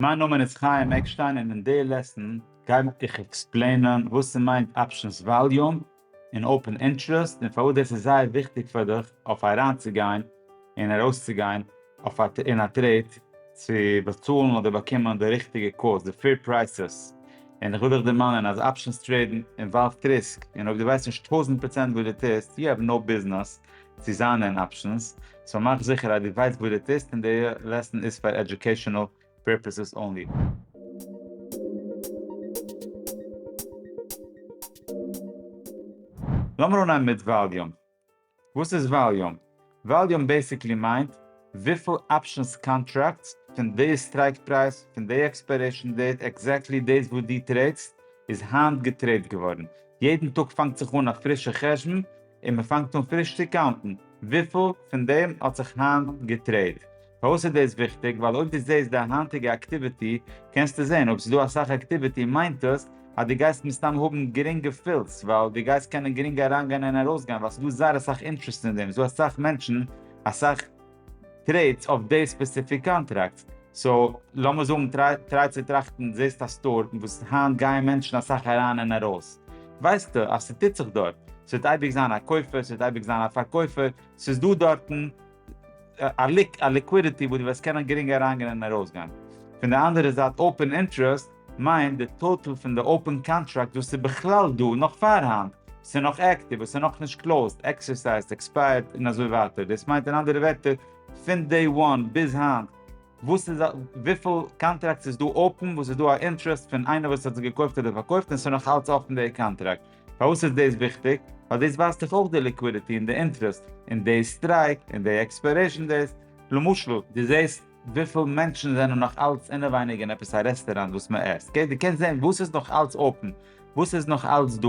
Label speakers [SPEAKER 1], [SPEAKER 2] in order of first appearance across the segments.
[SPEAKER 1] מיין נאמען איז חיים עקשטיין און אין די לעסן גיי איך עקספלעינען וואס ס'מיינט אפשענס וואליום און אופען אינטרעסט און פארוואס דאס איז זייער וויכטיג פאר דיך אויף אריינצוגיין און ארויסצוגיין אין א טרעיד צו באצאלן אדער באקומען די ריכטיגע קאלס די פעיר פרייסעס און איך וויל דיך דערמאנען אז אפשענס טרעידן אינוואלווט ריסק און אויב דו ווייסט נישט טויזנט פראצענט וואס דו טוסט יו העוו נאו ביזנעס צו זיין אין אפשענס, סאו מאך זיכער אז דו ווייסט וואס דו טוסט און די לעסן איז פאר עדיוקעישאנעל פערפעסעס אנלי. לאמיר אנהייבן מיט וואליום. וואס איז וואליום? וואליום בעסיקלי מיינט וויפיל אפשענס קאנטראקטס פון די סטרייק פרייז פון די עקספיירעישאן דעיט עקזעקטלי דאס וואס דו טרעידסט איז היינט געטרעיד געווארן. יעדן טאג פאנגט זיך אן א פרישע חשבון. און מען פאנגט אן פריש צו קאונטן וויפיל פון דעם האט זיך היינט געטרעיד. פארוואס איז דאס וויכטיג? ווייל אויב דו זעסט די היינטיגע אקטיוויטי קענסטו זען אויב ס'איז דא אסאך אקטיוויטי מיינט עס אז דו גייסט מסתם האבן גרינגע פילס ווייל דו גייסט קענען גרינג אריינגיין און ארויסגיין ווייל ס'איז דא זייער אסאך אינטרעסט אין דעם ס'איז דא אסאך מענטשן אסאך טרעיטס אויף די ספעסיפיק קאנטראקטס. סאו לאמיר זאגן טריי צו טראכטן זעסט א סטאר וואס היינט גייען מענטשן אסאך אריין און ארויס ווייסטו אז ס'טוט זיך דארט ס'וועט אייביג זיין א קויפער ס'וועט אייביג זיין א פארקויפער ס'איז דא דארטן א ליקווידיטי וואס דו וועסט קענען גרינג אריינגיין און ארויסגיין פון די אנדערע זייט אופען אינטרעסט מיינט די טאטעל פון די אופען קאנטראקט וואס איז בכלל דא נאך פארהאן, וואס איז נאך עקטיוו, וואס איז נאך נישט קלאוזט, עקסערסייזט, עקספייערט און אזוי ווייטער, דאס מיינט אין אנדערע ווערטער פון דעי וואן ביז היינט וואס איז וויפיל קאנטראקטס איז דא אפען וואס איז דא א אינטערעסט פון איינער וואס האט עס געקויפט אדער פארקויפט און עס איז נאך אלץ אפען דעי קאנטראקט, פארוואס איז דאס וויכטיג? ווייל דאס ווייזט דאך אויך די ליקווידיטי און די אינטערעסט און דעי סטרייק און דעי עקספיירעישן דעיס למשל, דו זעסט וויפיל מענטשן זענען נאך אלץ אינעווייניג אין עפעס א רעסטעראנט וואס מען עסט, אקעי, דו קענסט זען וואס איז נאך אלץ אפען, וואס איז נאך אלץ דא,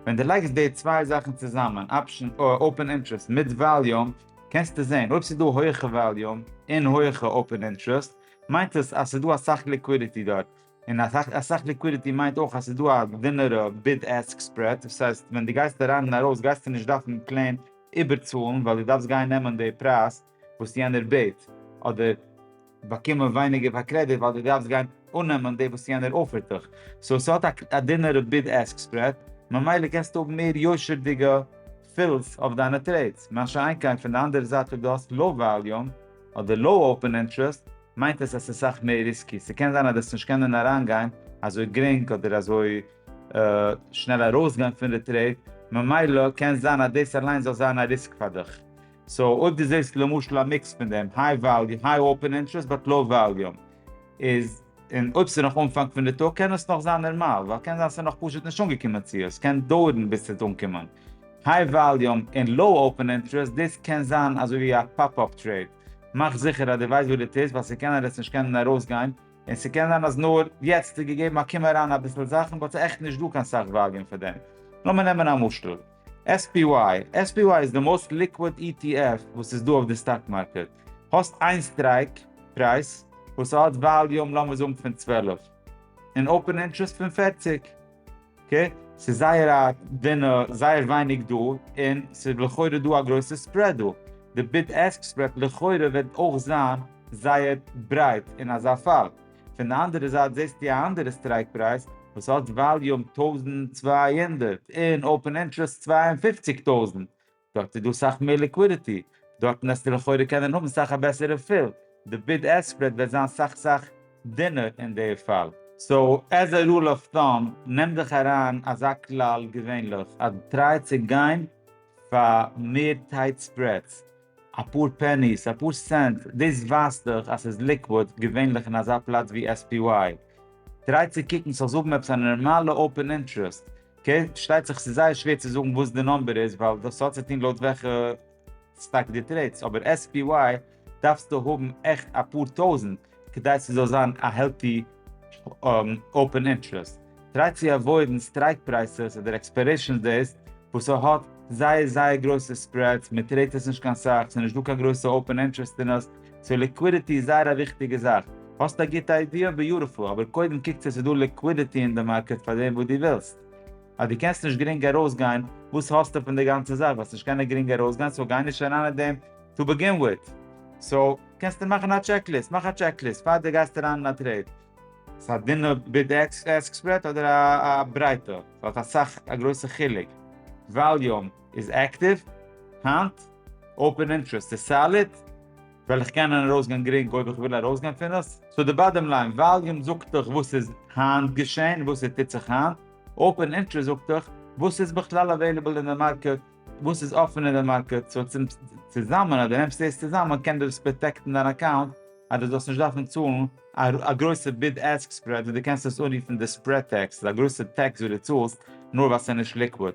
[SPEAKER 1] ווען דו לייגסט די צוויי זאכן צוזאמען, אפשען, אפען אינטרעסט, מיט וואליום, קענסטו זען, אויב ס'איז דא הויעכע וואליום, און הויעכע אפען אינטרעסט, מיינט עס אז ס'איז דא אסאך ליקווידיטי דארט, און אסאך ליקווידיטי מיינט אויך אז ס'איז דא א דינערע ביד עסק ספרעד, דאס הייסט ווען דו גייסט אריין און ארויס גייסטו נישט דארפן פלעין איבערצאלן ווייל דו דארפסט גיין נעמען די פרייז, וואס יענער בעט, אדער באקומען ווייניגער פאר קרעדיט ווייל דו דארפסט גיין אננעמען דאס וואס יענער אפערט דיך, סאו ס'האט א דינערע ביד עסק ספרעד, ממילא קענסטו האבן מער יושר'דיגע פילס אויף דיינע טרעידס, מה שאין כן פון די אנדערע זייט אויב דו האסט לאו וואליום אדער לאו אופען אינטרעסט מיינט עס אז ס'איז סאך מער ריסקי, ס'קען זיין אז דו וועסט נישט קענען אריינגיין אזוי גרינג אדער אזוי שנעל ארויסגיין פון די טרעיד, ממילא קען זיין אז דאס אליין זאל זיין א ריסק פאר דיך. סאו אויב דו זעסט למשל א מיקס פון דעם, היי וואליום, היי אופען אינטרעסט באט לאו וואליום, איז און אויב ס'איז נאך אנפאנג פון די טאג קען עס נאך זיין נארמאל, ווייל קען זיין ס'איז נאך פשוט נישט אנגעקומען צו עס קען דויערן ביז ס'וועט אנקומען. היי וואליום און לאו אופען אינטרעסט דאס קען זיין אזוי ווי א פאפ אפ טרעיד, מאך זיכער אז דו ווייסט וואס דו טוסט ווייל ס'קען ער עס נישט קענען ארויסגיין, און ס'קען זיין אז נאר יעצט איז געגעבן א קום אריין אביסל זאכן באט ס'איז עכט נישט דא קיין סאך וואליום פאר דעם. לאמיר נעמען א משל. SPY, SPY איז די מאוסט ליקוויד ETF וואס איז דא אויף די סטאק מארקעט. האסט איין סטרייק פרייז וואס האט וואליום לאמיר זאגן פון צוועלף, און אופען אינטרעסט פון פֿערציק. אקעי, ס'איז זייער א דינע, זייער ווייניג דא, און ס'איז לכאורה דא א גרויסע ספרעד דא. די ביד עסק ספרעד לכאורה וועט אויך זיין זייער ברייט אין אזא פאל. פון די אנדערע זייט זעסטו א אנדערע סטרייק פרייז וואס האט וואליום טויזנט צוויי הונדערט און אופן אינטרעסט צוויי און פֿופֿציק טויזנט, דארט איז דא סאך מער ליקווידיטי, דארטן וועסטו לכאורה קענען האבן סאך א בעסערע פיל, די ביד עסק ספרעד וועט זיין סאך סאך דינער אין די פאל. סאו עז א רול אוו טאם נעם דיך אריין אזא כלל געווענליך אז טריי צו גיין פאר מער טייט ספרעדס, אפאר פעניס, אפאר סענט, דאס ווייזט דאך אז ס'איז ליקוואד, געווענליך אין אזא פלאץ ווי SPY. טריי צו קוקן ס'זאל האבן עפעס א נארמאלע אופן אינטרעסט, אקעי? פארשטייט זיך ס'איז זייער שווער צו זאגן וואס די נומבער איז ווייל דאס האט צו טון לויט וועלכע סטאק דו טרעידסט, אבער SPY דארפסטו האבן עכט אפאר טויזנט, כדי ס'זאל זיין א העלטי אפען אינטערעסט. טריי צו עוואוידן סטרייק פרייסעס אדער עקספיירעישאן דעיס וואס ס'האט זייער זייער גרויסע ספרעדס, מ'טרעידט עס נישט קיין סאך, ס'נישט דא קיין גרויסע אפען אינטערעסט אין עס, סאו ליקווידיטי איז זייער א וויכטיגע זאך. האסט א גוטע איידיע? ביוטיפול, אבער קודם קוק צו ס'דא ליקווידיטי אין די מארקעט פאר דעם וואס דו ווילסט. אז דו קענסט נישט גרינג ארויסגיין, וואס האסטו פון די גאנצע זאך? וועסט נישט קענען גרינג ארויסגיין, סאו גיי נישט אריין אין דעם טו בעגין וויט, סאו קענסטו מאכן א טשעק ליסט, מאך א טשעק ליסט פאר די גייסט אריין אין א טרעיד. ס'איז א דינע ביד עסק ספרעד אדער א ברייטע? ס'האט אסאך א גרויסע חילוק. וואליום איז עקטיוו היינט? אפען אינטרעסט איז סאליד? וועל איך קענען ארויסגיין גרינג אויב איך וויל ארויסגיין פון עס? סאו די באדעם ליין, וואליום זאגט דיך וואס איז היינט געשען, וואס עס טוט זיך היינט, אפען אינטרעסט זאגט דיך וואס איז בכלל עוועליבעל אין די מארקעט וואס איז אפען אין די מארקעט, סאו צום צוזאמען אז דו נעמסט דאס צוזאמען קען דאס פראטעקטן דיין אקאונט אז דו זאלסט נישט דארפן צאלן א גרויסע ביד עסק ספרעד וואס דו קענסט עס אנרופן די ספרעד טעקס, ס'איז א גרויסע טעקס וואס דו צאלסט נאר ווייל ס'איז נישט ליקוויד.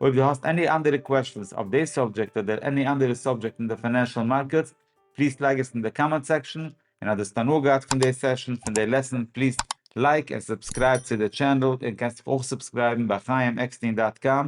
[SPEAKER 1] אויב דו האסט עני אנדערע קוועשאנס אויף די סאבדזשעקט אדער עני אנדערע סאבדזשעקט אין די פיינענשעל מארקעטס פליז לייג עס אין די קאמענט סעקשאן, און אז דו האסט הנאה געהאט פון די סעשאן פון די לעסאן פליז לייק און סובסקרייב צו די טשענעל, און קענסט זיך אויך סובסקרייבן ביי חיים עקסטין דאט קאם.